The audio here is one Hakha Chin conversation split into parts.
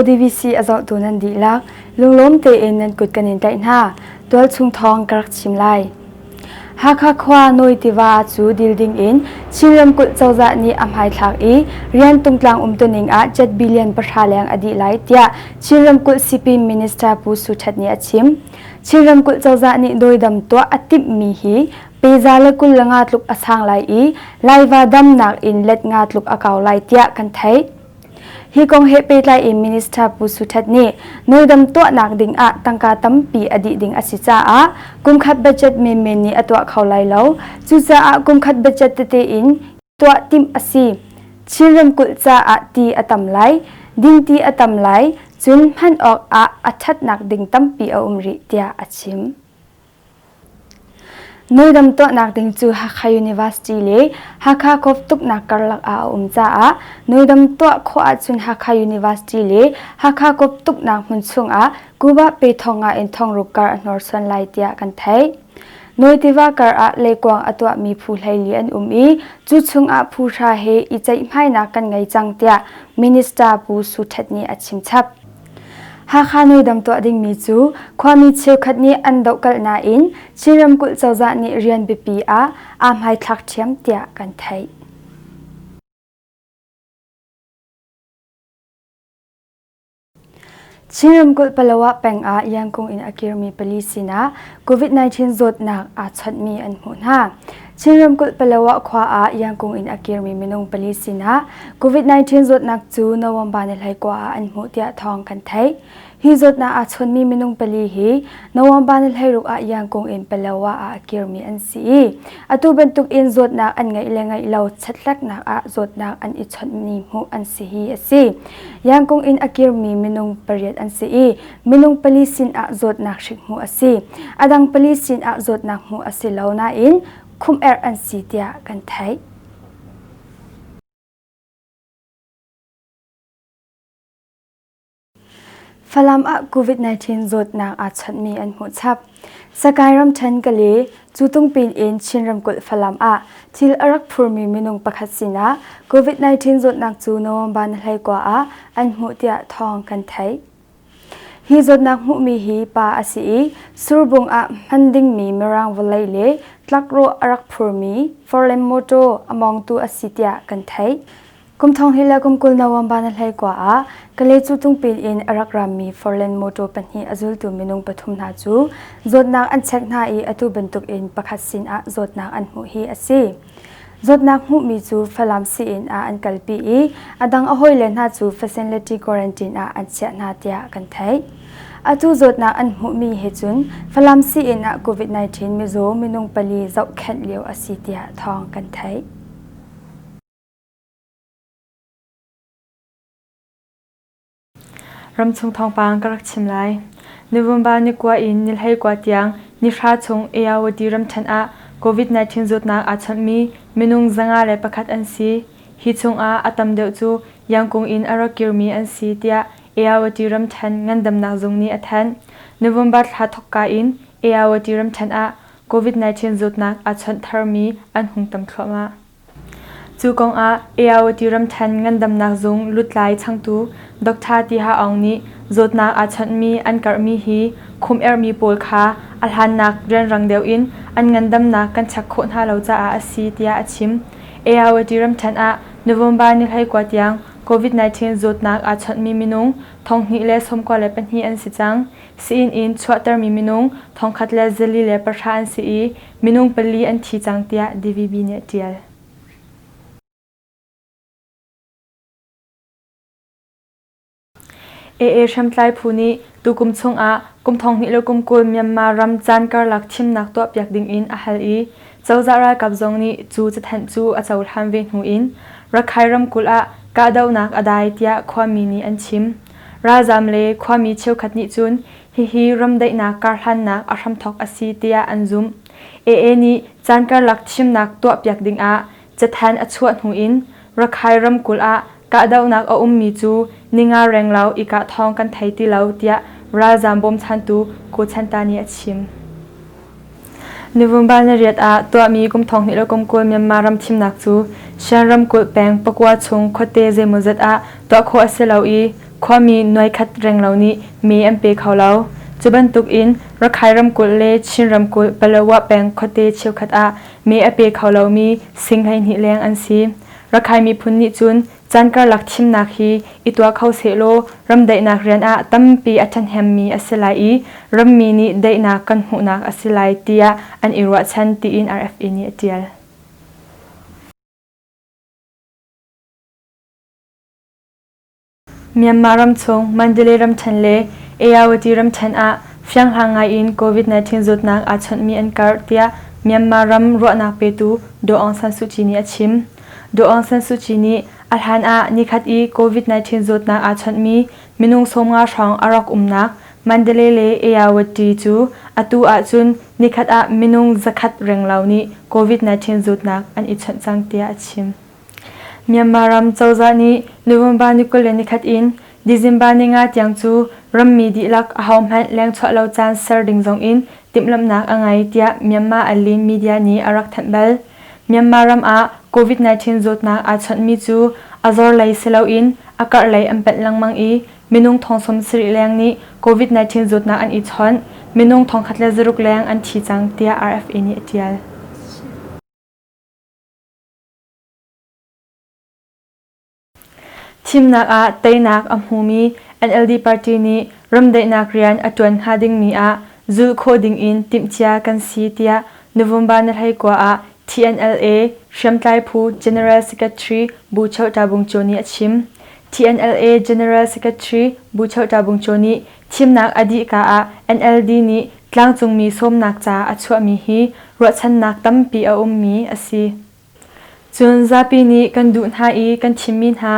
DVC a zohtu nan dihlak lunglawm tein nan kut kan in tlaih hna. Tualchung thawng ka rak chim lai. Hakha khua Nawi tiva cu dil ding in Chin ramkulh cozah nih a hmaithlak i rian tungtlang umtuning ah jet billion pahra leng a dih lai tiah Chin ramkulh Sipin Minister Pu Su That nih a chim. Chin ramkulh cozah nih dawidam tuah a timhmi hi peza le kul le nga tluk a sang lai i laiva damnak in let nga tluk a kau lai tiah kan theih. Hi kong he pehtlai in Minister Pu Su Htet nih nawldam tuahnak ding ah tangka tampi a dih ding a si caah kumkhat budget menmen nih a tuah kho lai lo. Cucaah kumkhat budget tete in tuah timh a si. Chin ramkulh caah ti a tam lai, ding ti a tam lai, cun hman awk ah a ṭhatnak ding tampi a um rih tiah a chim. Noidam tuahnak ding cu Hakha University le Hakha Kawftuknak karlak ah a um caah noidam tuah khawh ahcun Hakha University le Hakha Kawftuknak hmun chung ah Kuba pe thong ah in thongruk kar a hnawrsuan lai tiah kan theih. Nawi tiva kar ah leikuang a tuahmi phu hleili an um i cu chungah phu hra he i ceihhmainak kan ngei cang tiah Minister Pu Su Htet nih a chimchap. Hakha noidam tuah dingmi cu khuami cheukhat nih an dohkalh nain Chin ramkulh cozah nih rian biapi ah aa hmaithlak ṭhiam tiah kan theih. Chin ramkulh Palawa peng ah Yangkung in a kirmi pali sinah COVID-19 zawtnak aa chawnhmi an hmuh hna. Chin ramkulh Palawa khua ah Yangkung in a kirmi minung pali sinah COVID-19 zawtnak cu November ni hleikua ah an hmuh tiah thawng kan theih. Hi zawtnak aa chawnmi minung pali hi November ni hleiruk ah Yangkung in Palawa ah a kirmi an si i Atu bantukin zawtnak an ngeih le ngeih lo chatlaknak ah zawtnak an i chawnhmi hmuh an si hi a si. Yangkung in a kirmi minung pariat an si i minung pali sinah zawtnak hrik hmuh a si. A dang pali sinah zawtnak hmuh a si lo nain khumher an si tiah kan theih. Falam ah COVID-19 zawtnak aa chawnhmi an hmuh chap. Sakae ramṭhen Kale, Cutungpin in Chin ramkulh Falam ah thil a rak phurmi minung pakhat sinah COVID-19 zawtnak cu November ni hleikua ah an hmuh tiah thawng kan theih. Hi zawtnak hmuhmi hi pa a si i Surbung ah hman dingmi Mirang vawlei le tlakrawh a rak phurmi Forlen Motor a mawngtu a si tiah kan theih. Kum thong hi le kum kul November na hlei kwa ah Kale cu tungpil in a rak rammi Forlan motor pahnih a zultu minung pathum hna cu zawtnak an check hna i atu bantuk in pakhat sin ah zawtnak an hmuh hi a si. Zawtnak hmuhmi cu Falam si-inn ah an kalpi i a dang a hawile hna cu facility quarantine ah an chiah hna tiah kan theih. Atu zawtnak an hmuhmi he cun Falam si-inn ah COVID-19 mizaw minung pali zohkhenh lio a si tiah thawng kan theih. Ramchung thawngpang ka rak chim lai. Nuvemba ni kua in nilhlei kua tiang nihra chung Ayawadi ramṭhen ah COVID-19 zawtnak aa chawnhmi minung zanga le pakhat an si. Hi chungah a tam deuh cu yangkung in a rak kirmi an si tiah Ayawadi ramṭhen ngandamnak zung nih a thanh. November thla thawkka in Ayawadi ramṭhen ah COVID-19 zawtnak aa chawnh tharmi an hung tam thluahmah. Cu kongah AIOT ramthen ngandamnak zung lutlai changtu Dr Tiha Aung nih zawtnak aa chawnhmi an karhmi hi khumherhmi pawl kha a hlannak rianrang deuh in an ngandamnak kan chek khawh hna lo caah a si tiah a chim. AIOT ramthen ah November ni hleikua tiang COVID-19 zawtnak aa chawnhmi minung thonghnih le sawmkua le pahnih an si cang. Sii-inn in chuahtermi minung thongkhat le zali le pahra an si i Minung pali an thi cang tiah DVB nih a ṭial. AA hriamtlai phu nih tukum chungah kum thonghnih le kum kul Myanmar ram caan karlak thimnak tuahpiak dingin a hal i cozah ralkap zong nih cu cathanh cu a cohlan ve hnu in Rakhine ramkulh ah kahdohnak a dai tiah khuami nih an chim. Ralzaam le khuami cheukhat nih cun Hihi ram daihnak karhlannak a hramthawk a si tiah an zumh. AA nih caan karlak thimnak tuahpiak dingah cathanh a chuah hnu in Rakhine ramkulh ah kahdohnak a ummi cu ninga renglo i kah thawng kan thei ti lo tiah ralzaam bawmchantu Ko Chanta nih a chim. November nariat ah tuahmi kum thonghnih le kum kul Myanmar ram thimnak cu Shan ramkulh peng pakua chung khuate zeimawzat ah tuah khawh a si lo i khuami nuai khat reng lo nih me an pe kho lo. Cu bantuk in Rakhine ramkulh le Chin ramkulh Palawa peng khuate cheukhat ah me a pe kho lomi sing hleihnih leng an si. Rakhine miphun nih cun Caan karlak thimnak hi i tuah kho sehlaw ram daihnak rian ah tampi a ṭhahnemmi a si lai i rammi nih daihnak kan hmuhnak a si lai tiah an i ruahchan tiin RFA nih a ṭial. Myanmar ramchung Mandalay ramṭhen le Ayawati ramṭhen ah fianghlang ngaiin COVID-19 zawtnak aa chawnhmi an karh tiah Myanmar ram ruahnak petu Daw Aung San Suu Kyi nih a chim. Aung San Suu Kyi nih a hlan ah nikhat i COVID-19 zawtnak aa chawnhmi minung sawmnga hrawng a rak umnak Mandalay le Ayawati cu atu ahcun nikhat ah minung zakhat renglo nih COVID-19 zawtnak an i chawnh cang tiah a chim. Myanmar ram cozah nih November ni kul le nikhat in December ni nga tiang cu rammi dihlak ahohmanh lengchuah lo caan ser ding zongin timhlamhnak a ngei tiah Myanmar Allin media nih a rak thanh bal. Myanmar ram ah COVID-19 zawtnak aa chawnhmi cu a zor lei si loin a karh lei an panh lengmang i minung thong sawmsarih leng nih COVID-19 zawtnak an i chawnh. Minung thong khat le zaruk leng an thi cang tiah RFA nih a ṭial. Thimnak ah teinak a hmumi NLD party nih ramdaihnak rian a ṭuan hnga dingmi ah zulh khawh dingin timhcia kan si tiah November ni hleikua ah TNLA hriamtlai phu General Secretary Bu Cheu Ta Bung Chaw nih a chim. TNLA General Secretary Bu Cheu Ta Bung Chaw nih thimnak a dih ka ah NLD nih tlangcungmi sawmnak ca a chuahmi hi ruahchannak tampi a ummi a si. Cun zapi nih kan duh hna i kan thimmi hna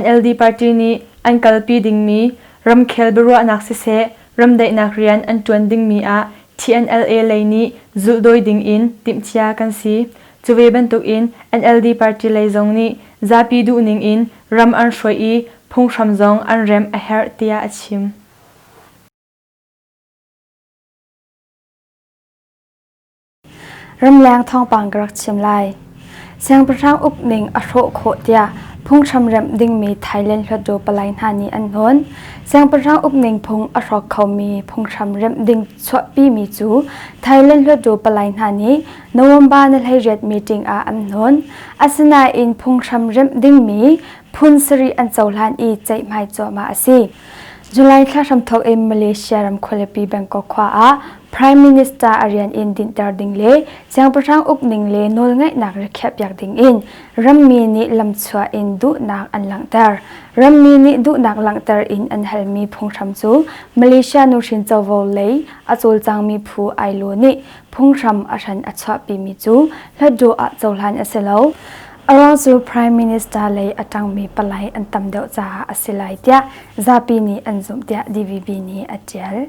NLD party nih an kalpi dingmi ramkhel biaruahnak siseh ramdaihnak rian an ṭuan dingmi ah TNLA lei nih zulhdawi dingin timhcia kan si. Cu ve bantukin NLD party lei zong nih zapi duhning in ram an hruai i phunghram zong an remh a herh tiah a chim. Ramleng thawngpang ka rak chim lai. Siangpahrang ukning a hrawh khawh tiah phunghram remh dingmi Thailand hluatdaw palai hna nih an hnon. Siangpahrang ukning phung a hrawk khomi phunghram remh ding chuahpimi cu Thailand hluatdaw palai hna nih November ni hleiriat meeting ah an hnon. Asinain phunghram remh dingmi phun sarih an cohlan i ceihmai cuahmah a si. July thla hramthawk in Malaysia ram khualipi Bangkok khua ah Prime Minister a rian in dinhter ding le siangpahrang uk ning le nawlngaihnak rikhiahpiak ding in rammi nih lamchuah in duhnak an langhter. Rammi nih duhnak langhter in an halmi phunghram cu Malaysia nuhrin covo lei a cawlcangmi phu Ailo nih phunghram a hran a chuahpimi cu hlatduh ah cohlan a si lo. Around cu Prime Minister lei a ṭangmi palai an tam deuh caah a si lai tiah zapi nih an zumh tiah DVB nih a ṭial.